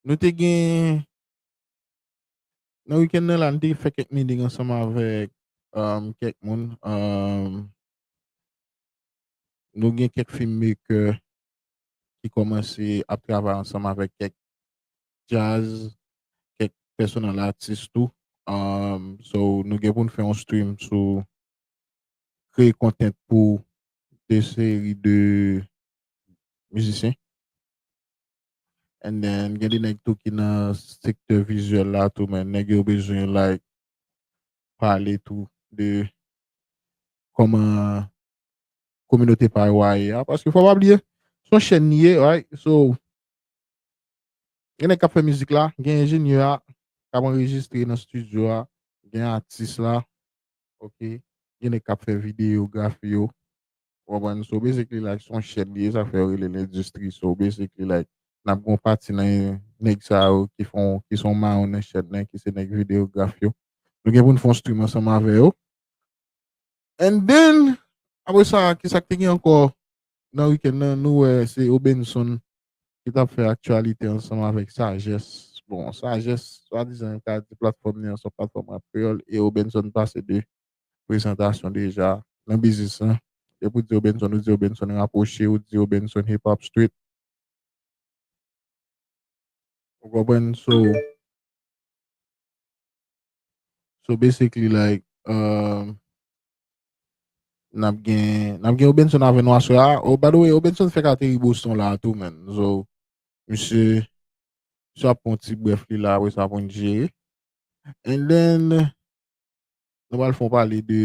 Nou te gen, nan weekend nan la, nou te fè kèk meeting ansanm avèk kèk moun. Nou gen kèk film maker ki kòmanse ap travay ansanm avèk kèk jazz, kèk pèsonal atis tou. So, nou gen pou nou fè yon stream sou kreye content pou de seri de mizisyen. and then gen de nèg tou ki nan sektè vizyèl la tou men nèg yo bezwen like pale tou de kòman kominote pa yo a ye a paske fò pa bliye son chèn li ye right so gen nèg k ap fè mizik la gen enjenyè a k ap anrejistre nan stidyo a gen atis la ok gen nèg k ap fè videyografi yo Ou konprann? So basically like son chèn li ye sa fè yo rele l endistri. So basically like nap gen yon pati nan nèg sa yo ki fon ki son mayon nan chèn nan ki se nèg videograf yo. Nou gen pou n fon stream ansanm avè yo. And then apre sa ki sa k te gen ankò nan weekend nan nou wè se Obenson ki tap fè aktyalite ansanm avèk Sajès. Bon Sajès swadizan yo ka di platfòm li an son platfòm rap kreyòl e Obenson pase de prezantasyon deja nan biznis lan depi ou di yo Benson ou di yo Benson rapwoche ou di yo Benson hip hop street ou konprann so so basically like um, nap gen nap gen yo Benson avè nou aswè a oh by the way yo Benson fèk ateri Boston la tou men so misye misye ap pon ti bref li la apre sa pou n jere and then Nou pral fon pale de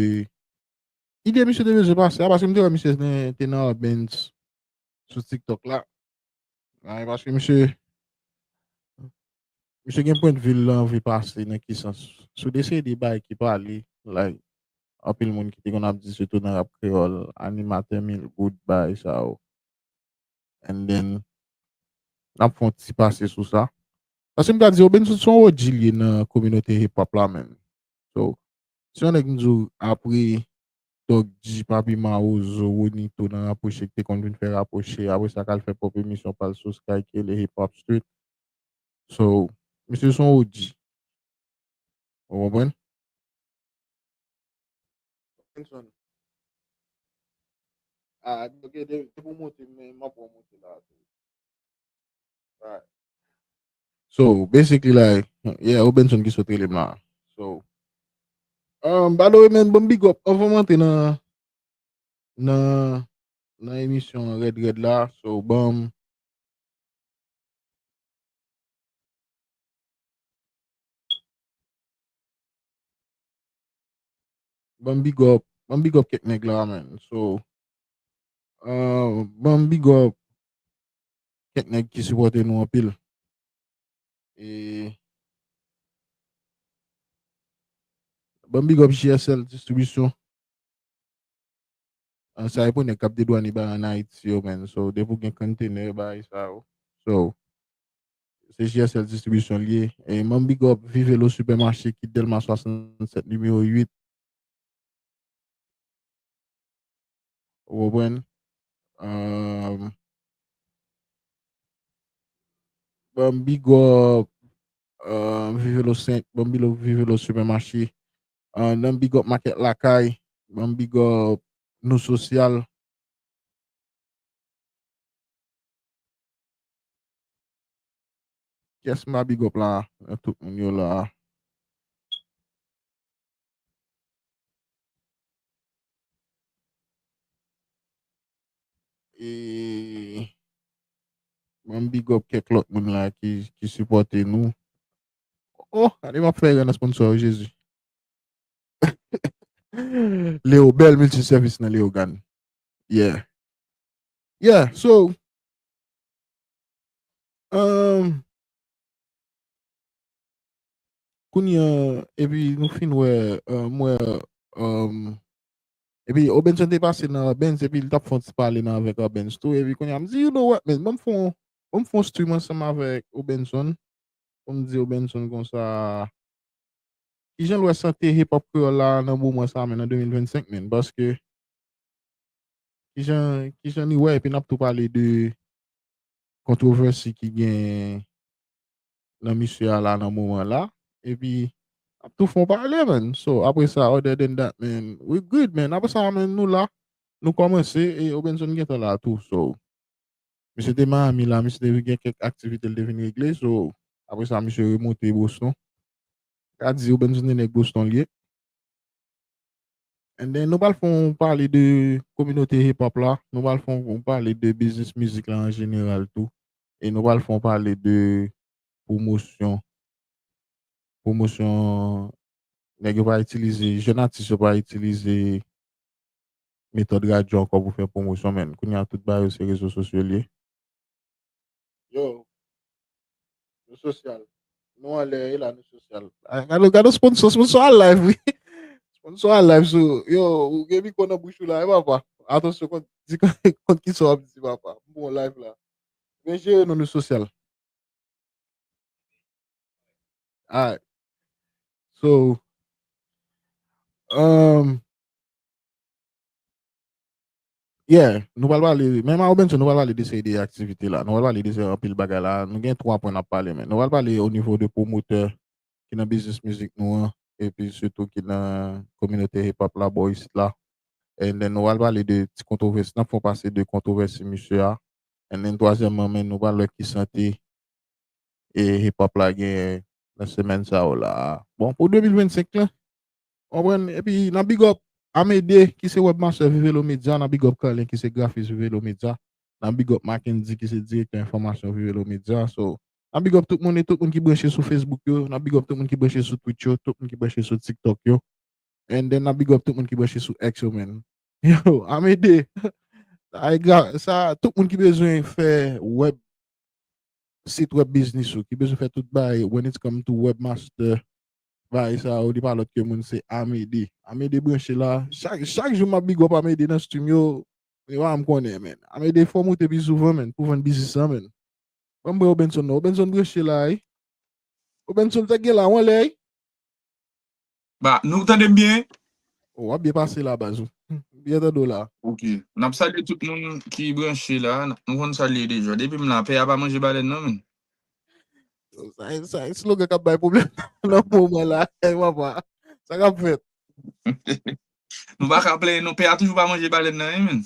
ide misye te bezwen pase a, paske m te wè misye te nan Urbanz sou TikTok la. Nan e paske misye misye gen pwent vil lan vi pase nan ki sans. Sou de seri de bay ki pale la anpil moun ki te konn ap di sitou nan rap kreyòl animatè mil goud bay sa yo. And then, n ap fè yon ti pase sou sa. Paske m ta di Obenn Soud se yon OG li ye nan kominote hip hop la menn. So, si yon nèg m di w apre Doc G, Papi Mawozo, Ronito nan Rapwoche ki te konn vin fè Rapwoche, apre sa k al fè pwòp emisyon pa l sou Sky ki rele Hip Hop Street. So, misye se yon OG. Ou konprann? Robinson. Ah, ok, de, de pou monte, men mwen pou monte la. Right. So, basically like, yeah, Robinson ki sote le ma. So, um, by the way, men, bon big up, anvan monte nan, nan, nan emisyon Red Red la, so, bon, Banm big up, banm big up kèk nèg la man. So, uh, banm big up kèk nèg ki sipòte nou anpil. E banm big up JSL distribisyon. An sa e pou nèg kap dedwane ba an Haiti yo man. So, depi ou gen container bay sa yo. So, Se JSL distribisyon li ye. E man bigòp vive lo super mache ki delma 67 nimewo 8. Ou konprann? Ahh. Banm bigòp ahh vive lo 5. Banm bigòp vive lo super mache. Ahh nan bigòp makèt lakay. Banm bigòp nou sosyal. Yes m ap big up la a tout moun yo la a. E banm big up kèk lòt moun la ki sipòte nou. Oh, gade m ap fè rè nan sponsor yo Jezi. Leo bèl multiservice nan Leogane. Yeah. Yeah, so Humm Kounye an epi nou fin wè m wè humm epi Obenson te pase nan Benz epi li tap fon ti pale nan avèk Benz tou epi kounye an m di you know what men banm fon banm fon stream ansanm avèk Obenson pou m di Obenson konsa kijan l wè sante hip hop kreyòl la nan moman sa men nan 2025 men paske Kijan li wè epi nap tou pale de kontrovèsi ki gen nan misye a la nan moman la epi nap tou fon pale men so apre sa other than that men we good men apre sa men nou la nou kòmanse e Obenson gentan la tou so misye te Miami la misye te gen kèk aktivite li te vin regle so apre sa misye remonte Boston ka di Obenson se nèg Boston li ye. And then nou pral fon pale de kominote hip hop la, nou pral fon pale de biznis mizik la an jeneral tou e nou pral fon pale de pwomosyon pwomosyon nèg yo pa itilize, jèn atis yo pa itilize metòd radyo ankò pou fè pwomosyon men kounya tout bagay yo se rezo sosyo l ye. Yo. Nou sosyal. Nou an lè e la nou sosyal. Gado, gado sponsor, sponsor a live wi. Sponsor a live sou. Yo, ou gen mi konan bouchou la e papa. Atonsyon kont, di kont ki so ap di papa. Bon live la. Men jere nou nou sosyal. Ay. So. Um. Yeah, nou pral pale, men Maro Benson, nou pral pale de seri de aktivite la, nou pral pale de seri anpil bagay la, nou gen 3 pwen nap pale men, nou pral pale o nivo de pwomotè ki nan biznis mizik nou an, epi sitou ki nan kominote hip hop la bò isit la, and then nou pral pale de ti kontwovèsi, nap fè yon pase de kontwovèsi misye a, and then twazyèmman men nou pral wè ki sante hip hop la genyen nan semèn sa yo la a. Bon pou 2025 lan, Konprann epi nan big up Amede ki se webmaster Vivelo Media nan big up Carlin ki se grafis Vivelo Media nan big up Mackendy ki se direktè enfòmasyon Vivelo Media so nan big up tout moun e tout moun ki branche sou Facebook yo nan big up tout moun ki branche sou Twitch yo tout moun ki branche sou TikTok yo and then nan big up tout moun ki branche sou X yo man yo Amede ay gra sa tout moun ki bezwen fè web sit web biznis ou ki bezwen fè tout bagay when it's come to webmaster Bagay sa yo li pa lòt ke moun se Amedee. Amedee branche la. Chak jou map big up Amedee nan stream yo. Mwen pa janm konnen men. Amedee fòw moute pi souvan men pou vann biznis lan men. Banm pran Obenson non. Obenson branche la wi. Obenson sa k gen la ou anlè wi. Ba nou tande m byen? Ou wap byen pase la baz. M byen tande w la. Ok. Nap salye tout moun ki branche la. Nou konn sa l ye deja. Depi m la pè a pa manje balèn non men. Sa e slogan kap bay problem nan moman la. E wapa, sa kap fèt. Nou pa ka plenyen non, pè a toujou pa manje balèn nan e menn.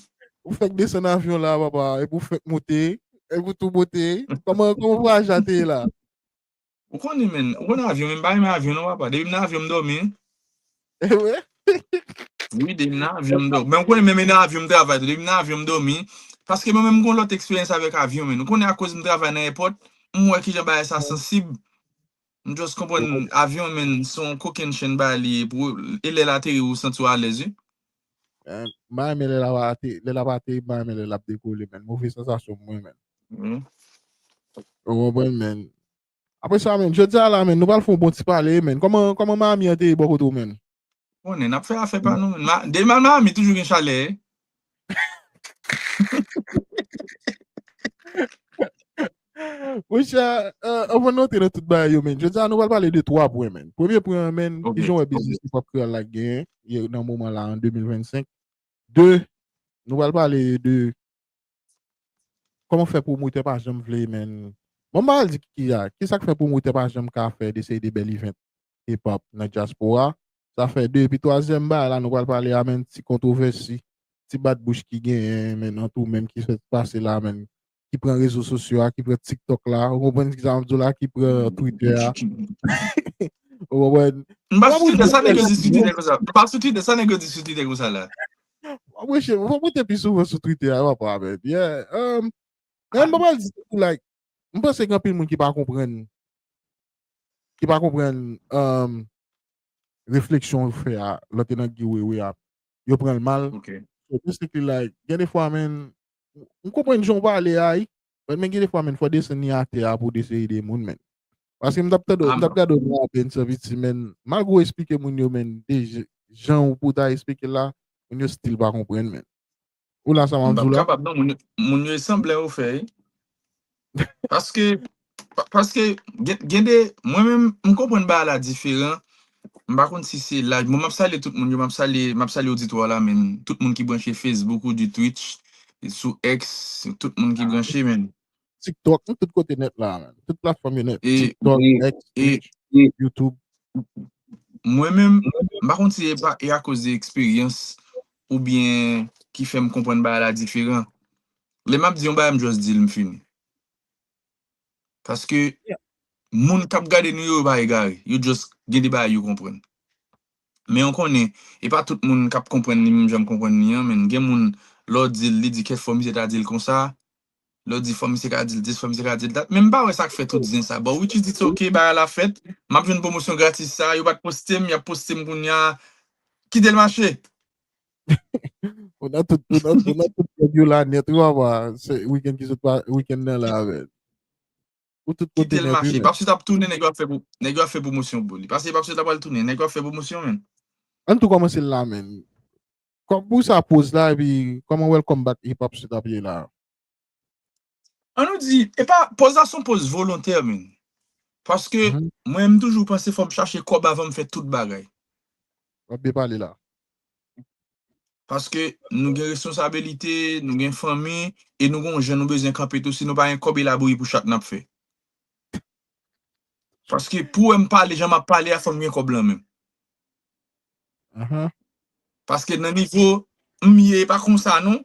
Ou fèk desann avyon la wapa, e pou fèk moute, e pou tou moute. Koman vwayaj la te ye la? Ou konnen menn, ou konnen avyon menn, m pa renmen avyon non wapa. Depi m nan avyon m dòmi. Ewe. Wi, depi m nan avyon m dòmi. Men ou konnen menm e nan avyon m travay tou. Depi m nan avyon m dòmi. Paske mwen menm m gon lòt eksperyans avèk avyon men. Ou konnen akoz m travay nan èpòt, m wè kijan bagay sa sansib. M just konprann avyon men son kokenn chenn bagay li ye pou e lè l ateri ou santi w alèz wi. Eh, Mwen men lè la va ate, lè la va ate, mwen men lè la dekole men. Move sansasyon mwen men. Mm. Ou konprann men. Apre sa menn, jodi a la menn, nou pral fè yon bon ti pale menn. Kòman, kòman Miami an te ye bò kote w menn? Ou konnen, n ap fè afè pa nou menn. Ma, de mal Miami toujou gen chalè. Mon chè, eh, anvan nou antre nan tout bagay yo menn, jodi a nou pral pale de 3 pwen menn. Premye pwen an menn, Ok, ki jan w wè ok. biznis hip hop kreyòl la k genyen ye nan moman la an 2025. 2, nou pral pale de Koman fè pwomotè pa janm vle menn bon m pa pral di ki a kisak fè pwomotè pa janm ka fè de seri de bèl event hip hop nan dyaspora sa fè 2 epi twazyèm bagay la nou pral pale a menn ti kontwovèsi ti bat bouch ki genyen menn an tou menm ki fèt pase la menn ki pran rezo sosyo a ki pran tiktok la ou konprann kisa map di w la ki pran twitè a ou konprann M pa sou Twitter, sa nèg yo di sou Twitter konsa? M pa sou Twitter, sa nèg yo di sou Twitter konsa la? Mwen mouche, mwen mwen te pi souvan sou Twitter a, mwen pa avè. Yeah. Um, nan mwen pa di tout, like, mwen panse gen pil moun ki pa komprenn, ki pa komprenn um, refleksyon l fè a, lò te nan giwewe a, yo pran l mal. Ok. So basically, like, gen de fwa men, mwen komprenn jan w pale a, Wè men gen defwa men fò desann ni atè a pou dese ede moun men. Paske m tap tande, m tap gade yon apen sou viti men, malgre ou esplike moun yo men de jan ou pou ta esplike la, moun yo stil pa konprann men. Ou la sa wap di w la? M pap kapab non, moun yo e sanble yo fè. Paske, paske gen de, mwen menm m konprann bagay la diferan M pa konn si se laj. Bon map salye tout moun yo, map salye map salye oditwa la menn. Tout moun ki branche Facebook ou di twitch, sou X, tout moun ki branche menn. TikTok, nou tout kote nèt la menn. Tout platfòm yo nèt. TikTok, X, twitch, YouTube. Mwen menm, m pa konn si e pa e akoz de eksperyans ou byen ki fèm konprann bagay la diferan. Lè map di yon bagay m just dil m fini. Paske moun kap gade nou yo pa egare. Yo just gen de bagay yo konprann. Men yon konnen, e pa tout moun kap konprann li menm jan m konprann li an menn. Gen moun lè w di l, li di kèk fwa misye ta di l konsa, lè w di fwa misye ka di l dis, fwa misye ka di l dat. Men m pa wè sa k fè tout zen sa. Bon which is it's ok, bagay la fèt. M ap jwenn pwomosyon gratis sa. Yo pa t poste m, y ap poste m kounya. Kite l mache. Ou nan tout kèd yo la nèt ou ava se wikèn ki sot pa wikèn nan la avè l. Ou tout kote nèt wi menn. Kite l mache. Papsut ap tounen nèg yo ap fè pou nèg yo ap fè pwomosyon pou li. Pase papsut la pral tounen nèg yo ap fè pwomosyon menn. Ann tou kòmanse l la menn. Kòman pou sa poz la epi kòman welcome back e papsut ap ye la. An nou di, e pa, poz la son poz volontè menn. Paske, mwen m toujou panse fòm chache kòb avan m fè tout bagay. Wap byen pale la. Paske, nou gen responsabilite, nou gen fanmi, e nou gen yon jan nou bezwen kanpe tou, si nou pa gen kòb e labouri pou chak nap fè. Paske pou wèm pale jan map pale a fòm gen kòb lan menm. Paske nan nivo m ye e pa konsa non.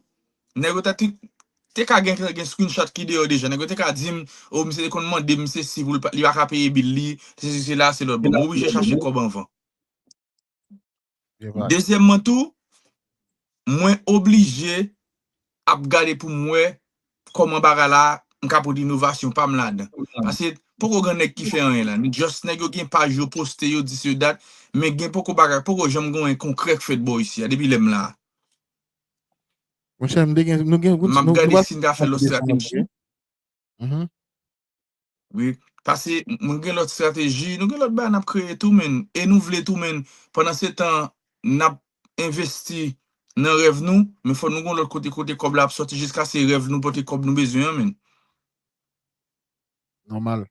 Nèg yo ta te ka gen gen screenshot ki deyò deja. Nèg yo te ka dim o misye te konn mandem sesi pou li pa ka peye bill li, sesi sela selòt. Bon mwen oblije chache kòb anvan. Dezyèmman tou, mwen oblije ap gade pou m wè kòman bagay la m ka pot inovasyon pa m ladan. Paske poko gen nèg ki fè anyen la. Just nèg yo gen paj yo poste yo di se dat men gen poko bagay, poko janm gen anyen konkrè k fèt bò isi a depi lè m la a. Monchè m te gen, nou gen, nou pral. M ap gade si n ka fè lòt estrateji. wi pase mwen gen lòt strateji nou gen lòt bagay nap kreye tou menn e nou vle tou menn pandan se tan nap envesti nan rèv nou men fò nou gon lòt kote kote kòb la ap sòti jiskase rèv nou pote kòb nou bezwen an menn. Nòmal.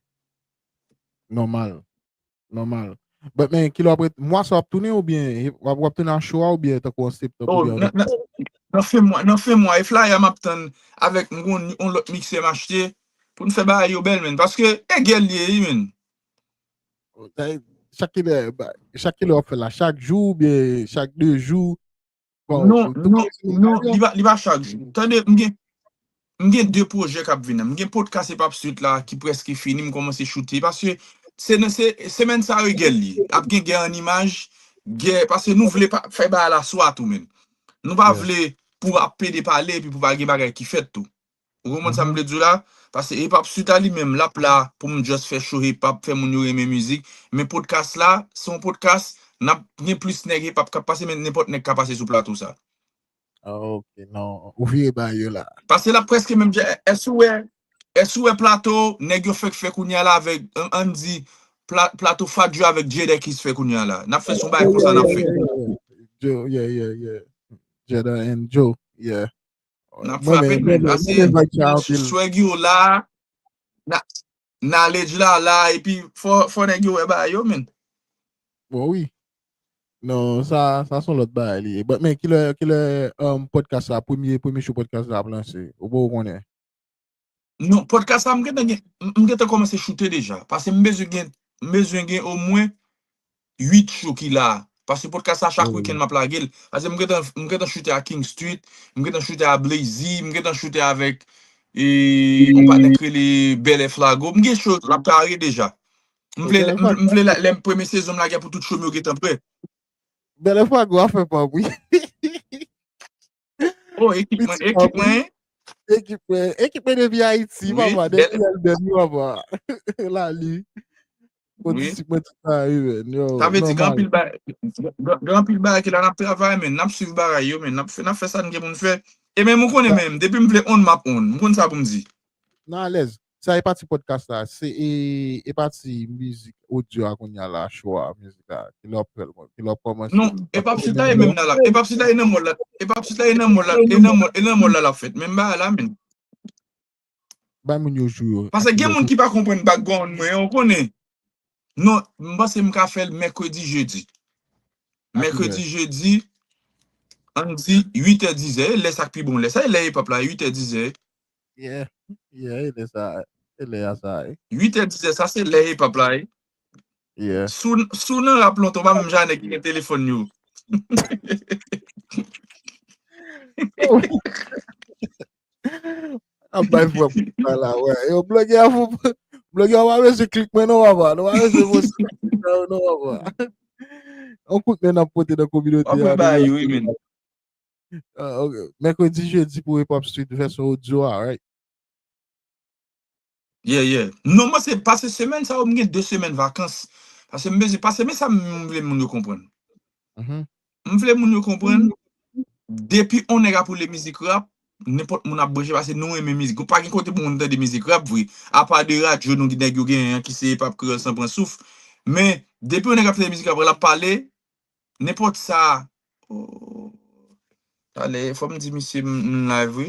Nòmal. Nòmal. But men, kilè wap ret, mwa sa wap tounen ou byen, wap wap tounen a cho a ou byen tankou an septanm ou byen an oktòb? Oh, nan fen mwa, nan fen mwa e flyer a map tann avèk m gon yon lòt mixer m'achte pou n fè bagay yo bèl menn paske e gèl li ye wi menn. Chak kilè, chak kilè wap fè la, chak jou ou byen chak 2 jou? Bon, Non, tout non, moun se non, mega yo. li pa, li pa chak jou. Tande, m gen, m gen 2 pwojè kap vin nan. M gen podcast Epap Sweet la ki prèske fini, m kòmanse choute, paske se nan se, semèn sa yo gèl li. Ap gen gè an imaj, gè, paske nou vle pa, fè bagay la swa tou menm. Nou pa Yeah. vle pou ap pede pale epi pou pa gen bagay ki fèt tou. Ou konprann sa m vle di w la? Paske hip hop street la li menm l ap la pou m just fè show hip hop, fè moun yo renmen mizik. Men podcast la, se yon podcast, n ap gen plis nèg hip hop k ap pase men nenpòt nèg ka pase sou plato sa. Ok, non, ou vire bagay yo la. Paske l ap prèske menm jan, èske ou wè, èske ou wè plato nèg yo fèk fè kounye a la avèk, an n di, pla, plato Fat Joe avèk Jadakiss fè kounye a la? N ap fè se yon bagay konsa n ap fè. Joe, yeah, yeah, yeah. Jada and Joe, yeah. Nap frape men la se swag yo la knowledge la la epi fò nèg yo wè bagay yo men. Bon wi. Non, sa son lòt bagay li. But men kilè kilè podcast la premye premye show podcast la ap lanse. Ou pa ou konnen. Non, podcast la m gentan gen, m gentan kòmanse choute deja. Pase m bezwen gen, m bezwen gen omwen 8 show ki la. Pase podcast la chak weekend map lage l. Pase m gentan, m gentan choute a King Street, m gentan choute a Blazy, m gentan choute avèk e yon patnè k rele Belle Flago. M gen show la pare deja. M vle, m vle lè m premye sezon m lage a pou tout show m yo gentan prè. Belle Flago a fè pa m wi. Oh ekip mwen, Piti ekip mwen. Ekip mwen, ekip mwen depi Ayiti, oui, papa, depi Lèlbèn, oui, papa. La li. Mwen oui. disip mwen tout sa, oui, men. Yo, Sa vle di gran pil ba gran pil ba ki la nap travay men, nap suiv bagay yo men, nap fè nap fè sa n gen pou n fè. E men mwen konnen men, depi m vle on map on, m konn sa pou m di. Nan alèz. Sa e pati podcast la se e e pati mizik audio a kounya la cho a mizik la kilè wap fèl mwen kilè wap kòmanse Non e pap si ta e menm nan la e pap si ta e nan mòl la e pap si ta e nan mòl la e nan mòl e nan mòl la lap fèt menm bagay la menn. Bay moun yo jou yo. Pase gen moun ki pa konprann background mwen an ou konnen. Non, m panse m ka fè l mèkredi jedi. A ki lè? Mèkredi jedi, an n di 8 è dizè, e lè sa k pi bon lè. Sa e lè epap la, 8 è dizè. Yeah, yeah, e lè sa, e lè a sa e. 8 è dizè, sa se lè epap la e. Yeah. Si w, si w nan rap lontan, w pa menm jan a nèg ki gen telefòn yo. Ap bay fwa pou sa la wè. Yo bloge a pou bloge a wè se klik men non wè. Nou wè se vos non wè. On kout men ap pote nan communauté. Ap mwen bay yo men. Uh, okay. Mercredi, jeudi pour hip hop street version audio, alright. Yeah yeah. Non mwen se pase semèn sa yo m gen 2 semèn vakans. Pase m bezwen pase men sa m vle moun yo konprann. Mhm. M vle moun yo konprann depi on nèg ap woule mizik rap, nenpòt moun ap branche pase nou renmen mizik. Pa gen kote pou moun tande mizik rap vre. Apa de radyo nou nèg yo genyen an ki se epap kreyòl san pran souf. Men depi on nèg ap tande mizik rap lap pale nenpòt sa oh. Talè fò m di misye m live wi.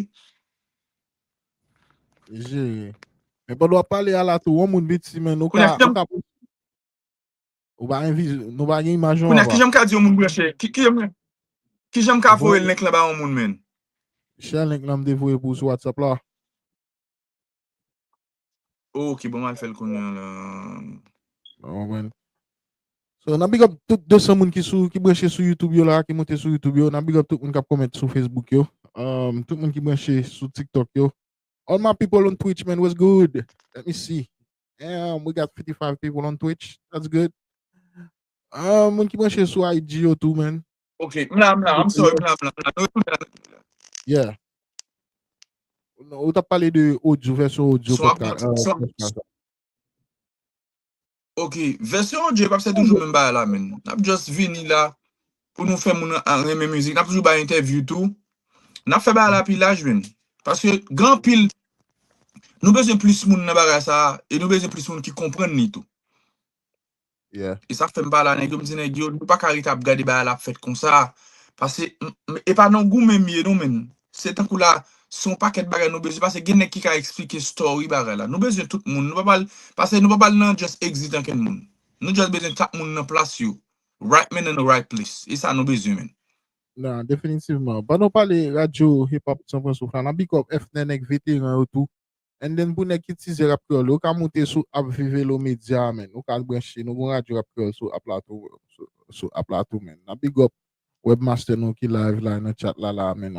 Jere. Men pa dwa pale a la tou, on moun bit si men nou ka... Ou ba gen viz, nou ba gen imaj yon wap. Kounya ki janm ka di yon moun branche, ki janm ka voye link la ba yon moun men. Share link la m devoye pou ou sou WhatsApp la. Oh ok bon mal fel kounye la. Ou konprann? So nan big up tout 200 moun ki sou ki branche sou YouTube yo la ki monte sou YouTube yo. Nan big up tout moun kap comment sou Facebook yo. Um, tout moun ki branche sou TikTok yo. All my people on Twitch man, what's good? Let me see. Um, we got 55 people on Twitch. That's good. Um, moun ki branche sou IG yo tou man. Ok, m la, m la, I'm sorry, m la, m la, m la, nou retounen la nan la. Yeah. Non, ou tap pale de audio, version audio Son ap podcast. gen- euh, son- podcast. Ok, versyon audio pap se toujou menm ba la men. Nap just vini la pou nou fè moun an renmen mizik. Nap toujou ba interview tou. Nap fè ba la pi laj men. Paske gran pil, nou bezwen plis moun nan bagay sa a, e nou bezwen plis moun ki komprenn li tou. Yeah. E sa fèm pale a nèg yo, m di nèg yo, nou pa ka rete ap gade bagay la ap fèt konsa. Pase, e pa nan goumen m ye non menn. Se tankou la, se yon pakèt bagay nou bezwen, pase gen nèg ki ka eksplike story bagay la. Nou bezwen tout moun, nou pa pral, pase nou pa pral nan just exit ankenn moun. Nou just bezwen chak moun nan plas yo. Right man in the right place. E sa nou bezwen menn. Nan, definitivman. Pandan w pale radyo hip hop San Francisco la, nan big up FNN ak veteran yo tou. And then pou nèg ki tizè rap kreyòl yo, ou ka moute sou app Vive Lo Media a menn. Ou ka al branche, nou gon radyo rap kreyòl sou app la tou, sou app la tou menn. Nap big up Webmaster nou ki live la nan chat la la a menn.